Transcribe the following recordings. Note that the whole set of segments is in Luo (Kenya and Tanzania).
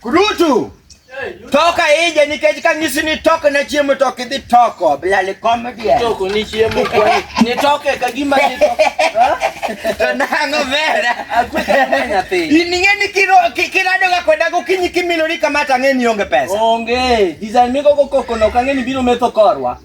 Kurutu. Toka ije nikech ka ng'isi ni tok na chiemo to kidhi toko bilali comedy. Toko ni chiemo kwa ni toke ka gima ni toko. To nango vera. Akweka nyathi. Ining'e ni kiro kirado ga kwenda gokinyi kimilori kama tang'e ni onge pesa. Onge. Design miko kokoko no kang'e ni biro metho korwa.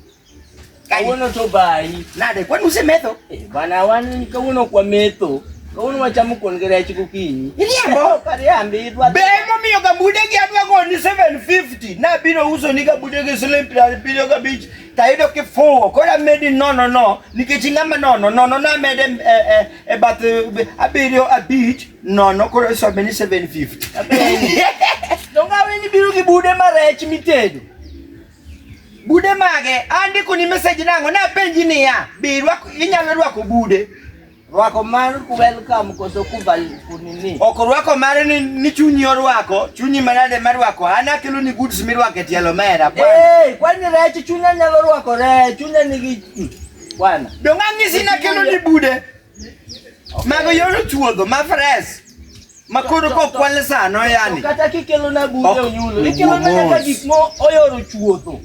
Kawuono to bayi. Nade, kwani usemetho? Eh, bana wan kawuono kwa metho. Kawuono wachamo kuon gi rech gokinyi. Iriambo? Kariambi idwa. Be momiyo gabude gi adwa go ni 750. Na biro uso ni gabude gi siling' piero abiriyo gabich. Tayudo kifuwo. Kora medi nono no. Nikech ing'ama nono. Nono na mede e, e, e bath e, abiriyo abich. Nono koro iso be ni 750. Dongawe ni biro gi bude ma rech mitedo. Bude mage andiko ni message nango na penji niya be rwako inyalo rwako bude rwako mar welcome koso kubal kunini ok rwako mare ni, ni chunyi orwako chunyi manade marwako an akelo ni goods mirwako e tielo mera bwana hey, kwani rech chunya nyalo rwako rech chunya nigi bwana dong' ang'isi nakelo ni bude Mago yoro chuodho ma fresh. Ma koro ko kwale sano yani. Kata kikelo na bude onyulo. Ikelo na kata gik mo oyoro chuodho.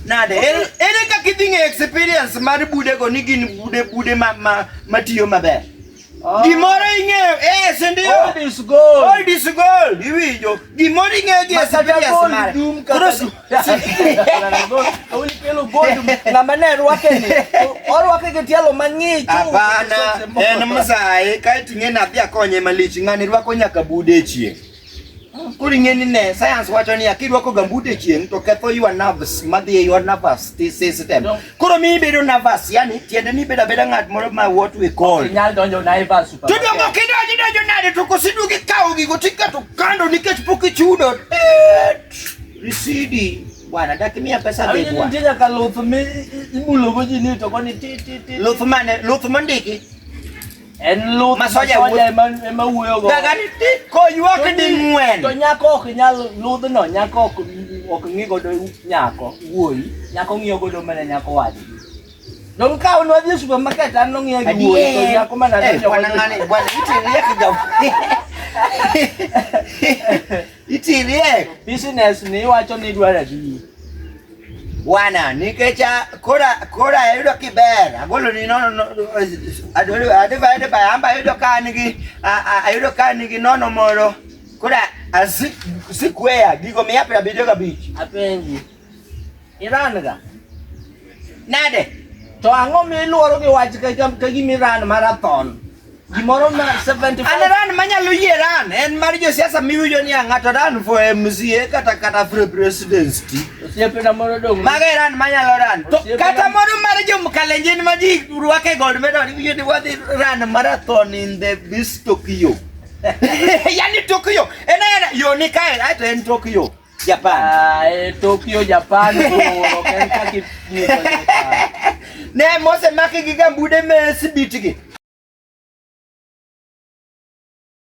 Nade, ere kaka idhi ng'e experience mar budego ni gin bude bude ma ma matiyo maber? Ah. Gimoro ing'eyo, eh, si ndio? Old is gold. Old is gold, iwinjo. Gimoro ing'eyo gi experience mare. Hapana, en mzae kaiti ng'e nathi akonye malich ng'ani rwako nyaka bude e chieng' koro ing'e ni ne sayans wacho ni akirwako gambut e chieng' to ketho your nerves madhi e your nervous system koro mi ibedo nervous yani tiende ni ibedo abeda ng'at moro ma what we call inyal donjo naivas to dongo kidonjo donjo nade to kosidwogi kawo gigo tiketo kando nikech pok ichudo Risidi bwana, dakimia pesa be bwana. Ndio ka luth mi ibulo goji ni to koni ti ti ti. Luth mane? Luth mondiki. En luth masoja wuoyo ema wuoyo go. Daga ni ti ko ywak di ngwen. To nyako ok nyal luth no, nyako ok ok ngi godo nyako wuoyi. Nyako ngiyo godo mana nyako wadi. Don ka unwa dhi supermarket an no ngiyo gi wuoyi to nyako mana ngiyo. Eh, bwana ngani, bwana iti ngiyo kijao. Itirie business ni iwacho ni idwaro adi? Bwana, nikech ah, kora kora ayudo kiber, agolo ni nono no, adwaro adiba adiba amba ayudo ka an gi ah, ah, ayudo ka an gi nono moro. Kora asik sikweya gigo mia piero abiriyo gabich. Apenji. Iran ga. Nade? To ang'o mi iluoro gi wach ka ka gimi Iran marathon? Gimoro ma 75. An Iran manyalo yie Iran en mar josiasa miwinjo ni ng'ato Iran for MCA kata kata for presidency. Osiepena moro dong. Maga Iran manyalo Iran. To kata moro mar jo Mkalenjin ma ji rwake gold medal iwinjo ni wadhi Iran marathon in the this Tokyo. Yaani Tokyo. Ena yo ni kae ato en Tokyo. Japan. Ah, eh, Tokyo, Japan. Ne mose maki gi gambude mesibitigi.